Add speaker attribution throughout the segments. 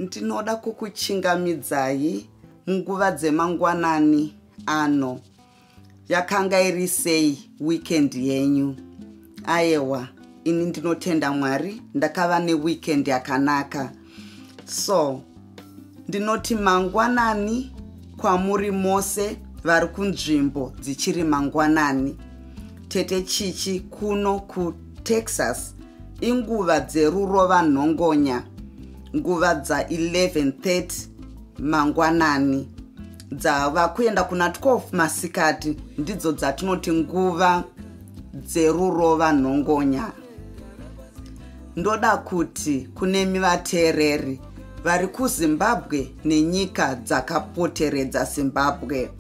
Speaker 1: ndinoda kukuchingamidzai munguva dzemangwanani ano yakanga iri sei weekend yenyu ayewa ini ndinotenda mwari ndakava neweekend yakanaka so ndinoti mangwanani kwamuri mose vari kunzvimbo dzichiri mangwanani tete chichi kuno kutexas inguva dzerurova nhongonya nguva dza 1130 mangwanani dzava kuenda kuna 12 masikati ndidzo dzatinoti nguva dzerurova nhongonya ndoda kuti kunemi vateereri vari kuzimbabwe nenyika dzakapoteredza zimbabwe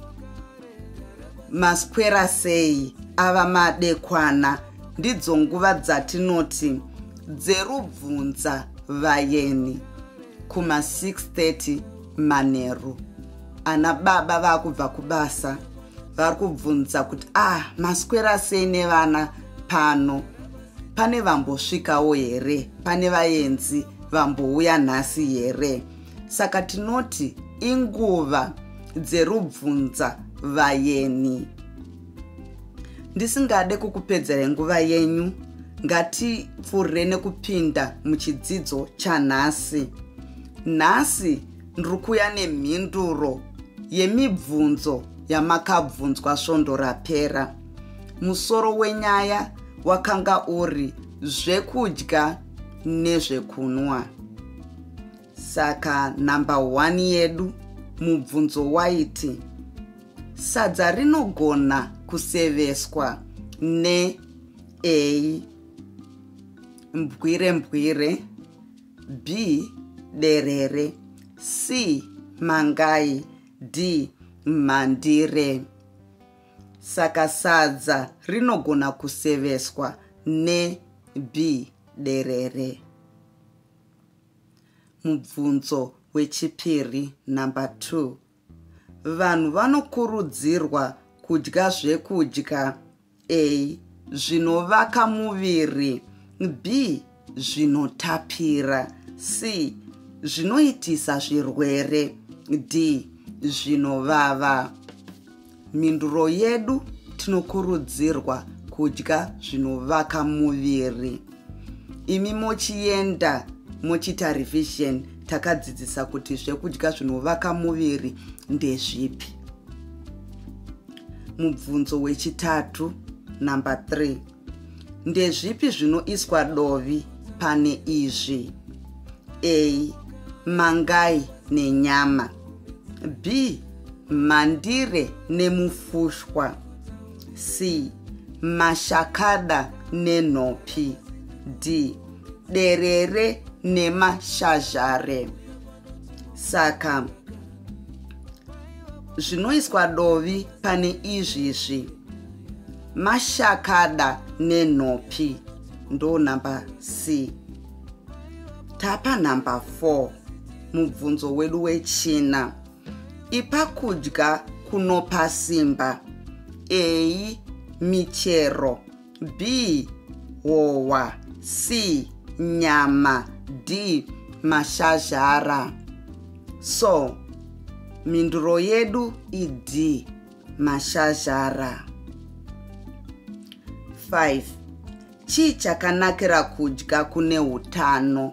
Speaker 1: maswera sei ava madekwana ndidzo nguva dzatinoti dzerubvunza vayeni kuma 630 manheru ana baba vakubva kubasa vari kubvunza kuti ah maswera sei nevana pano pane vambosvikawo here pane vaenzi vambouya nhasi here saka tinoti inguva dzerubvunza vayeni ndisingade kukupedzera nguva yenyu ngatipfuure nekupinda muchidzidzo chanhasi nhasi Ndiri kuya nemhinduro yemibvunzo yamakabvunzwa svondo rapera. Musoro wenyaya wakanga uri zvekudya nezvekunwa. Saka number 1 yedu mubvunzo waiti sadza rinogona kuseveswa ne a mbwire mbwire b derere c mangai d mhandire saka sadza rinogona kuseveswa ne b derere mubvunzo wechipiri number 2 Vanhu vanokurudzirwa kudya zvekudya a zvinovaka muviri b zvinotapira c zvinoitisa zvirwere d zvinovava Mhinduro yedu tinokurudzirwa kudya zvinovaka muviri. Imi mochienda mochiita revision takadzidzisa kuti zvekudya zvinovaka muviri ndezvipi. Mubvunzo wechitatu number 3. Ndezvipi zvinoiswa dovi pane izvi? A. Mangai nenyama. B. Mandire nemufushwa. C. Mashakada nenhopi. D. Derere nemashazhare. saka zvinoiswa dovi pane izvizvi mashakada nenhopi ndo number c tapa number 4 mubvunzo wedu wechina ipa kudya kunopa simba ei michero B. Howa C. Nyama D. Mashazhara So, mhinduro yedu iD. Mashazhara 5. Chii chakanakira kudya kune utano?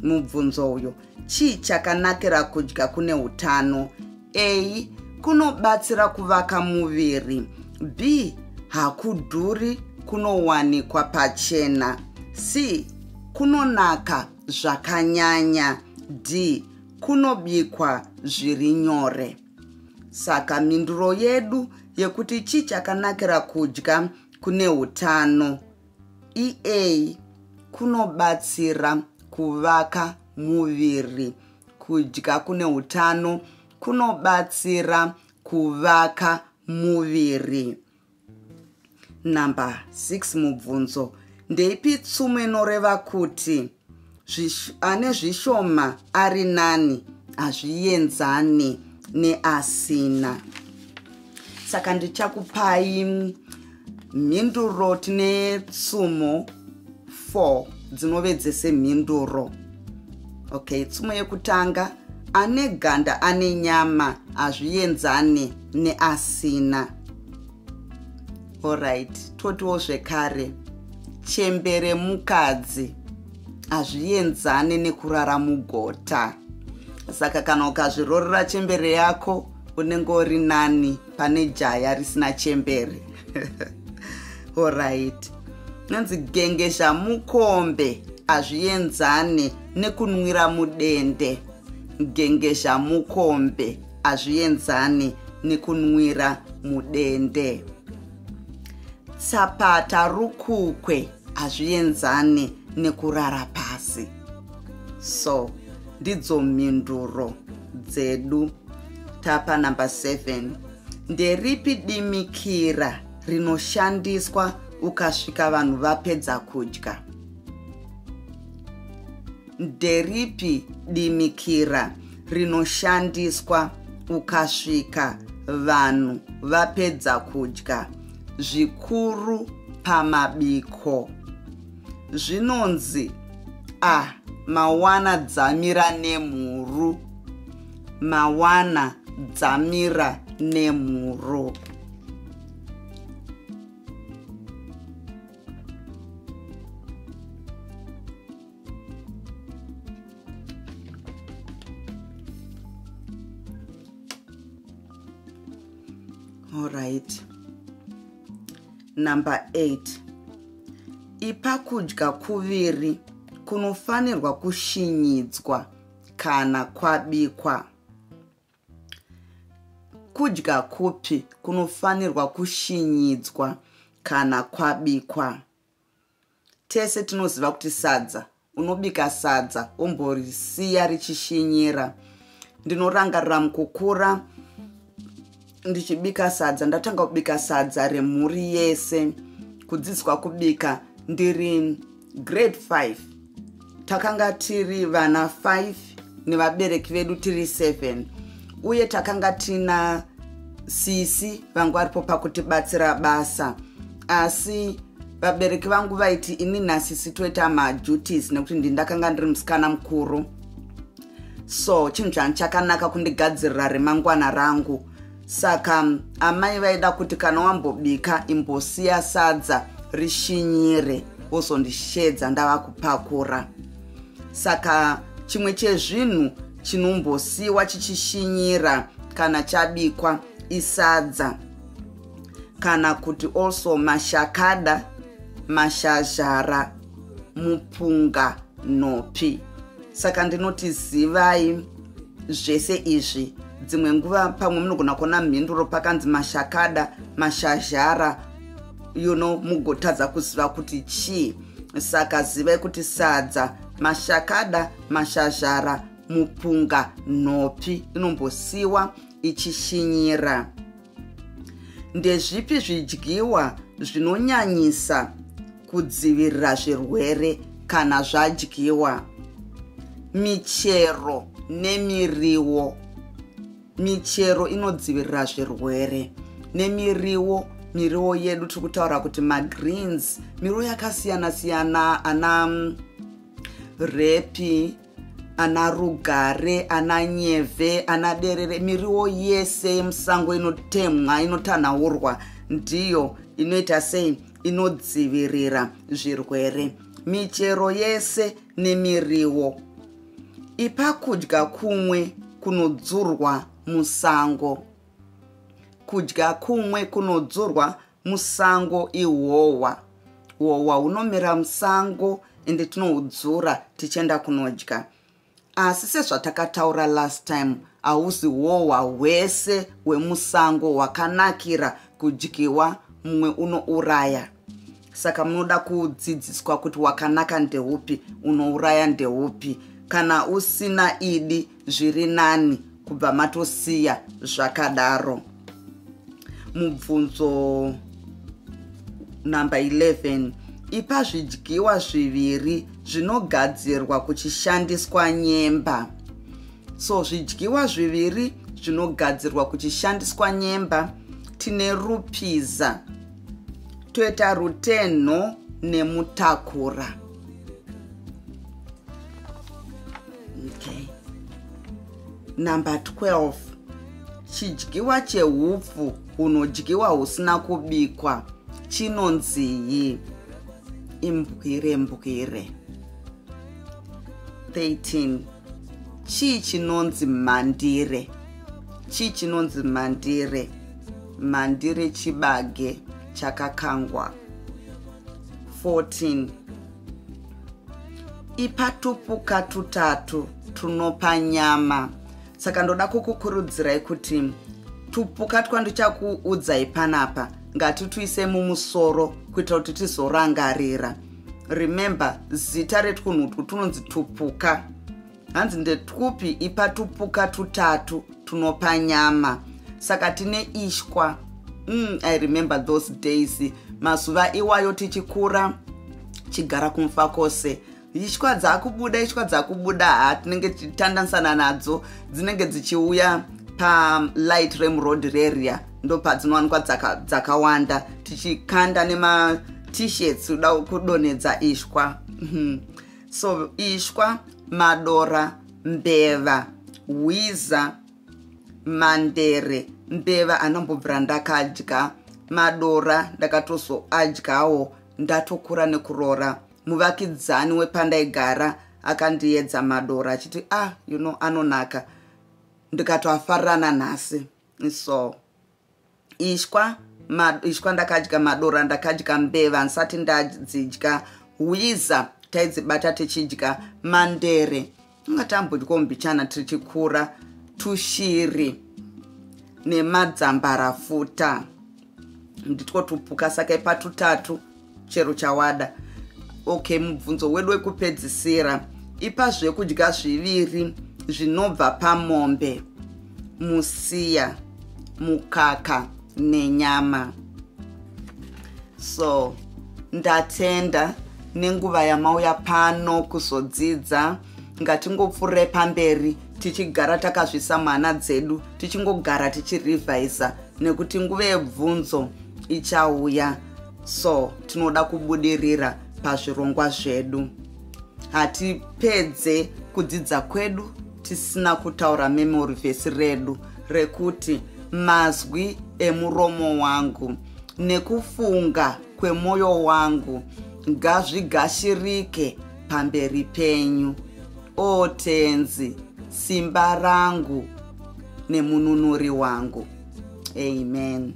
Speaker 1: Mubvunzo uyo. Chii chakanakira kudya kune utano? A. Kunobatsira kuvaka muviri. B. Hakudhuri kunowanikwa pachena. C. Kunonaka zvakanyanya. D. Kunobikwa zviri nyore. Saka mhinduro yedu yekuti chii chakanakira kudya kune utano? EA kunobatsira kuvaka muviri. Kudya kune utano kunobatsira kuvaka muviri. Number 6 mubvunzo. Ndeipi tsumo inoreva kuti ane zvishoma ari nani hazvienzani neasina saka ndichakupai mhinduro tine tsumo 4 dzinove dzese mhinduro okay tsumo yekutanga ane ganda ane nyama hazvienzani neasina Alright, totiwo zvekare chembere mukadzi hazvienzane nekurara mugota saka kana ukazvirorera chembere yako unenge uri nani pane jaya risina chembere orit nonzi genge zhamukombe hazvienzane nekunwira mudende genge zhamukombe hazvienzani nekunwira mudende tsapata rukukwe hazvienzani nekurara pasi so ndidzo mhinduro dzedu tapa number 7 nderipi dimikira rinoshandiswa ukasvika vanhu vapedza kudya nderipi dimikira rinoshandiswa ukasvika vanhu vapedza kudya zvikuru pamabiko zvinonzi a mawana dzamira nemhuru mawana dzamira nemhuru all right number 8 ipa kudya kuviri kunofanirwa kushinyidzwa kana kwabikwa kudya kupi kunofanirwa kushinyidzwa kana kwabikwa Tese tinoziva kuti sadza unobika sadza womborisiya richishinyira. Ndinorangarira mukukura ndichibika sadza ndatanga kubika sadza remhuri yese kudzidzwa kubika ndiri grade 5 takanga tiri vana 5 nevabereki vedu tiri 7 uye takanga tina sisi vangu varipo pakutibatsira basa asi vabereki vangu vaiti ini nasisi toita maduties nekuti ndi ndakanga ndiri musikana mukuru so chinhu chani chakanaka kundigadzirira remangwana rangu saka amai vaida kuti kana wambobika imbosiya sadza rishinyire wozondishedza ndava kupakura saka chimwe chezvinhu chinombosiwa chichishinyira kana chabikwa isadza kana kuti also mashakada mashazhara mupunga nopi saka ndinoti zivai zvese izvi dzimwe nguva pamwe munogona kuona mhinduro pakanzi mashakada mashazhara you know mugotadza kuziva kuti chii saka zivai kuti sadza mashakada mashazhara mupunga nhopi inombosiwa ichishinyira Ndezvipi zvidyiwa zvinonyanyisa kudzivirira zvirwere kana zvadyiwa? Michero nemiriwo. Michero inodzivirira zvirwere nemiriwo miriwo yedu tiri kutaura kuti magreens miriwo yakasiyana siyana ana mm, repi ana rugare ana nyeve ana derere miriwo yese yemusango inotemwa inotanhaurwa ndiyo inoita sei inodzivirira zvirwere michero yese nemiriwo ipa kudya kumwe kunodzurwa musango kudya kumwe kunodzurwa musango ihohwa hohwa hunomera musango ende tinohudzura tichienda kunodya asi sezvatakataura last time hausi hohwa hwese hwemusango hwakanakira kudyiwa mumwe unouraya saka munoda kudzidziswa kuti wakanaka ndeupi unouraya ndeupi kana usina idi zviri nani kubva matosiya zvakadaro mubvunzo number 11 ipa zvidyiwa zviviri zvinogadzirwa kuchishandiswa nyemba so zvidyiwa zviviri zvinogadzirwa kuchishandiswa nyemba tine rupiza toita rutenho nemutakura okay number 12 chidyiwa chehupfu hunodyiwa husina kubikwa chinonziyi imbwire mbwire 13 chii chinonzi mandire chii chinonzi mandire mandire chibage chakakangwa 14 ipa tupuka tutatu tunopa nyama saka ndoda kukukurudzirai kuti tupuka twandichakuudzai panapa ngatituise mumusoro kuitira kuti tizorangarira remember zita retwunhu utwu tunonzi tupuka hanzi ndetwupi ipa tupuka tutatu tunopa nyama saka tine ishwa mm, i remember those days mazuva iwayo tichikura chigara kumfa kwose ishwa dzakubuda ishwa dzakubuda ha tinenge tichitandanisana nadzo dzinenge dzichiuya palight rem road reria ndopadzinowanikwa dzakawanda dzaka tichikanda nematishets kuda kudonhedza ishwa mhm. so ishwa madora mbeva hwiza mandere mbeva anombobvira ndakadya madora ndakatozoadyawo ndatokura nekuroora muvakidzani wepandaigara akandiedza madora achiti ah you know anonaka ndikatoafarirana nhasi so ishwa ma, ishwa ndakadya madora ndakadya mbeva ndisati ndadzidya hwiza taidzibata tichidya mandere inga tambodyawo mbichana tichikura tushiri nemadzambarafuta nditwo tupuka saka ipatutatu chero chawada okay mubvunzo wedu wekupedzisira ipa zvekudya zviviri zvinobva pamombe musiya mukaka nenyama so ndatenda nenguva yamauya pano kuzodzidza ngatingopfuure pamberi tichigara takazvisa mwana dzedu tichingogara tichirevhisa nekuti nguva yebvunzo ichauya so tinoda kubudirira pazvirongwa zvedu hatipedze kudzidza kwedu tisina kutaura memory vhesi redu rekuti mazwi emuromo wangu nekufunga kwemwoyo wangu ngazvigashirike pamberi penyu o tenzi simba rangu nemununuri wangu amen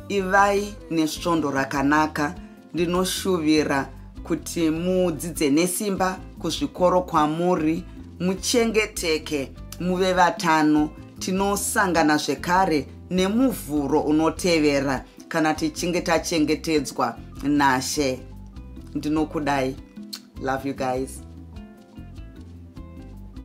Speaker 1: ivai nesvondo rakanaka ndinoshuvira kuti mudzidze nesimba kuzvikoro kwamuri muchengeteke muve vatano tinosangana zvekare nemuvhuro unotevera kana tichinge tachengetedzwa nashe ndinokudai love you guys